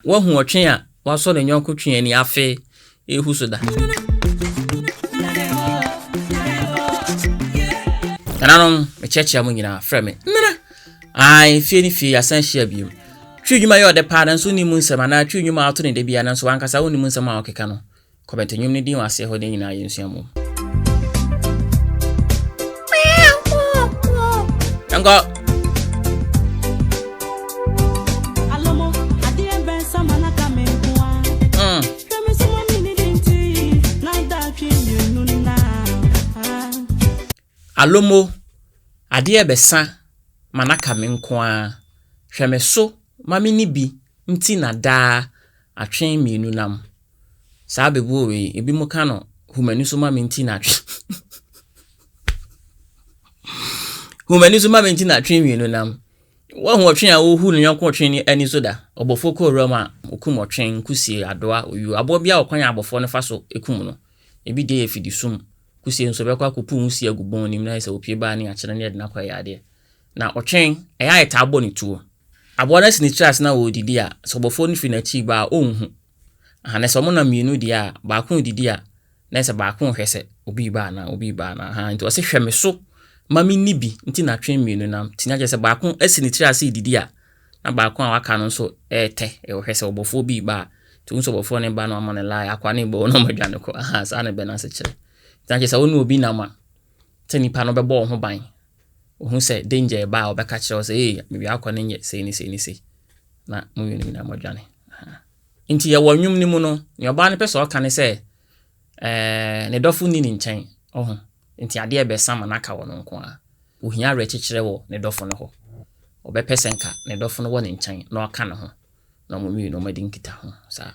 Woahu ɔtwe a wasɔ ne yɔnko twe ani afe rehu so da? Nananom, mekyerɛkyerɛ mo nyinaa, frɛ me Nana. Ae, fie ne fie, yɛasan ahyia bio. Twi nnwuma yɛ ɔdɛ paa, nanso wonni mu nsɛm, anaa twi nnwuma a ɔto no da biara, nanso w'ankasa wonni mu nsɛm a ɔkeka no. Kɔbɛto nnwom no din wɔ aseɛ hɔ nnɛ nyinaa yɛnsua mu. Yɛnkɔ. Alomo, adeɛ bɛsa ma no aka me nko ara. Hwɛ me so ma menni bi nti na daa atwe mmienu nam. Saa bebuo wei, ebinom ka no hu m'ani so ma me nti na atwe hu m'ani so ma me nti na atwe mmienu nam. Wɔhu ɔtwe a wɔhu ne yɔnko ɔtwe ne ani so da. Ɔbɔfoɔ kɔ owura mu a, ɔkum ɔtwe, nkusie, adoa, oyuo, aboa bi a ɔkwan a abɔfoɔ no fa so kum no. Ebi deɛ yɛ fidisum. Kusie nso, bɛkɔ akɔpu nwusie agu bɔn no mu na ayɛ sɛ wɔpue baa ne akyere ne ɛde no akɔ ɛyɛ adeɛ. Na ɔtwe, ɛyɛ a yɛtaa bɔ ne tuo. Aboa no asi ne tiri ase na ɔredidi a, sɛ ɔbɔfoɔ no firi n'akyi reba a, ɔnhu. Ahaa, na sɛ wɔnam mmienu deɛ a, baako redidi a, na ɛsɛ baako rehwɛ sɛ obi reba anaa, obi reba anaa. Ahaa, nti ɔse hwɛ me so ma menni bi nti na twe mmienu nam. Nti na kyerɛ sɛ baako asi ne tiri ase redidi a, na baako a waka no nso retɛ, rehwɛ sɛ ɔbɔfoɔ bi reba a. Nti wohu sɛ ɔbɔfoɔ no reba na wama no lae, akoa no rebɔ hɔ na wɔadwane kɔ. Ahaa, saa na ɛbɛ no ase kyerɛ. Nti na kyerɛ sɛ wo ne obi nam a, sɛ nipa no bɛbɔ wo ho ban Ohu sɛ danger reba a, ɔbɛka kyerɛ wo sɛ, ee, me wia akɔ ne nyɛ sei ne sei ne sei. Na mo mmienu nyinaa moadwane. Nti yɛwɔ nnwom no mu no, nea ɔbaa no pɛ sɛ ɔka ne sɛ, ɛɛ, ne dɔfo nni ne nkyɛn. Ɔho. Nti adeɛ bɛsa ma no aka wɔ no nko ara. Ohia awerɛkyekyerɛ wɔ ne dɔfo no hɔ. Ɔbɛpɛ sɛ nka ne dɔfo no wɔ ne nkyɛn na ɔka ne ho, na wɔn mmienu wɔadi nkitaho saa.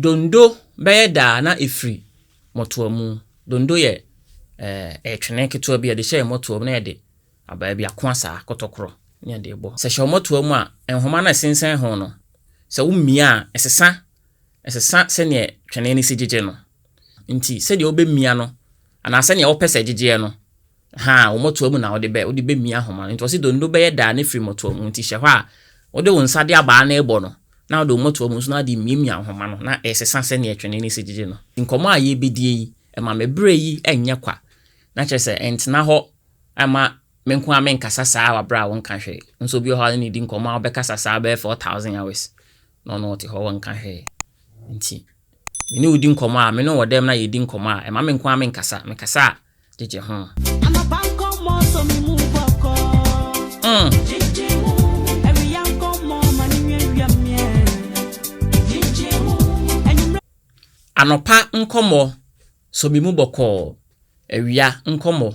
Dondo bɛyɛ da a na ɛfiri mmɔtoa mu. Dondo yɛ eh, ɛyɛ twene ketewa bi a yɛde hyɛ mmɔtoa mu na yɛde abaa bi ako asaa kɔtɔkorɔ ne yɛde bɔ. Sɛ hyɛ mmɔtoa mu a, nhoma no a ɛsensɛn ho no, sɛ womia a, ɛsesa ɛsesa sɛdeɛ twene no si gyegye no. Nti sɛdeɛ wobɛmia no anaa sɛdeɛ wopɛ sɛ ɛgyegyeɛ no, haa, wo mmɔtoa mu na wode bɛ, wode bɛmia ahoma no. Nti ɔse donno bɛyɛ daa ne firi mmɔtoa mu, nti hyɛ hɔ a wode wo nsa de abaa no rebɔ no, na wode wo mmɔtoa mu nso na wode miamia ahoma no na ɛresesa sɛdeɛ twene no si gyegye no. Nkɔmmɔ a yɛrebɛdie yi, ɛma me berɛ yi nyɛ kwa, na kyerɛ sɛ ɛntena hɔ mma me nko ara menkasa saa wɔ berɛ a wonka hwee. Nso obi wɔ hɔ a wo ne no redi nkɔmmɔ a wobɛkasa saa bɛyɛ 4000 hours. na ɔno ɔte hɔ a ɔnka hwee. Ntsi me no wo di nkɔmbɔ a, me no wɔ dɛm na yedzi nkɔmbɔ a, ɛma me nkoaa me nkasa, me kasa a, gyegye ho. Anapa nkɔmbɔ sɔ me mu bɔkɔ. Gyegye ho. Ewia nkɔmbɔ ma no wia wia me ɛ. Gyegye ho. Enyimber. Anɔpa nkɔmbɔ sɔ me mu bɔkɔɔ awia nkɔmmɔ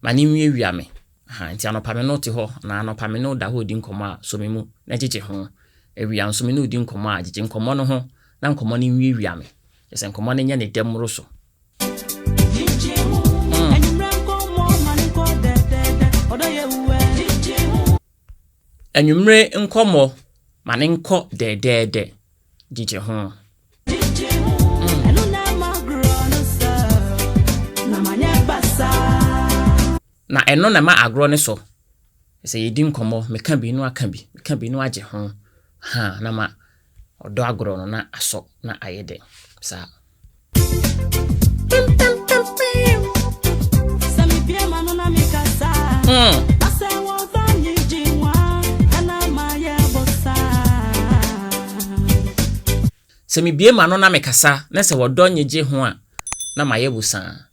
ma no nwiawia me. Aha, nti anɔpa me ne wo te hɔ anaa anɔpa me ne wo da hɔ redi nkɔmmɔ a, sɔ me mu na gyegye ho. Awia nso me ne wo di nkɔmmɔ a, gyegye nkɔmmɔ no ho na nkɔmmɔ no nwiawia me. Kyerɛ sɛ nkɔmmɔ no nyɛ ne dɛ mmoro so. Anwummere nkɔmmɔ ma no nkɔ dɛɛdɛɛdɛ. Gyegye ho. na ɛno na ɛma agorɔ no sɔ sɛ yɛdi nkɔmmɔ meka bi no aka bi meka bi no agye ho ha na ma ɔdɔ agorɔ no na asɔ na ayɛ dɛ saa Mm. Sɛ mibue m'ano na mekasa na sɛ ɔdɔ nye gye ho a, na mayɛ bosaa.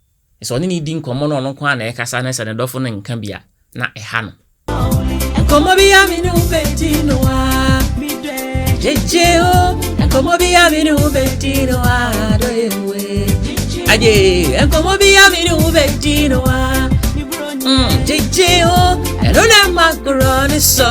Sɛ ɔne no redi nkɔmmɔ na ɔno nko ara na ɛrekasa na sɛ ne dɔfo no nka bi a, na ɛha no. Nkɔmmɔ bi a me ne wo bɛdi no a, gyegye o. Nkɔmmɔ bi a me ne wo bɛdi no a, dɔ yɛ we. Agye, nkɔmmɔ bi a me ne wo bɛdi no a, gyegye o. Ɛno na ɛma korɔ ne sɔ.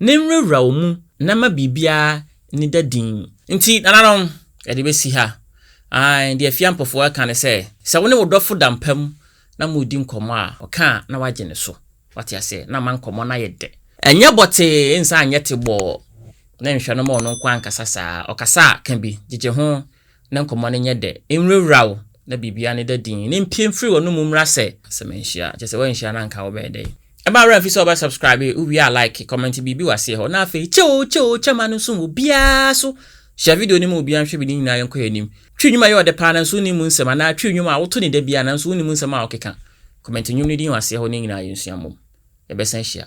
Ne nwurawura wo mu na ma biribiara nneda dinn. Enti, nananom, yɛde besi ha. Aane, deɛ Afia Mpofoɔ reka ne sɛ, sɛ wo ne wo dɔfo da mpa mu na moredi nkɔmmɔ a, ɔka a na wagye ne so. Wate aseɛ? Na ama nkɔmmɔ no ayɛ dɛ. Ɛnyɛ bɔtee, nsa anyɛ tebɔɔ, na nhwɛ no ma ɔno nko ara nkasa saa. Ɔkasa a, ka bi. Gyegye ho, na nkɔmmɔ no nyɛ dɛ, nwurawura wo, na biribiara no da dinn, na mpue mfiri w'anom mmra sɛ. Sɛ manhyia a, kyerɛ sɛ woanhyia na anka wobɛyɛ dɛn? Ɛmma wo werɛ mfi sɛ wobɛ subscribe, wowie a like, comment biribi wɔ aseɛ hɔ, na afei kyɛ oo kyɛ oo kyɛ ma no nso wɔ obiara so, share video no ma obiara nhwɛ bi ne nyinaa yɛnkɔ yɛn anim. Twi nnwom a ɛyɛ ɔdɛ paa nanso wonnim mu nsɛm anaa twi nnwom a woto no da biara nanso wonnim nsɛm a wɔkeka, comment nnwom no din wɔ aseɛ hɔ na yɛn nyinaa yɛnsua mmom. Yɛbɛsan ahyia.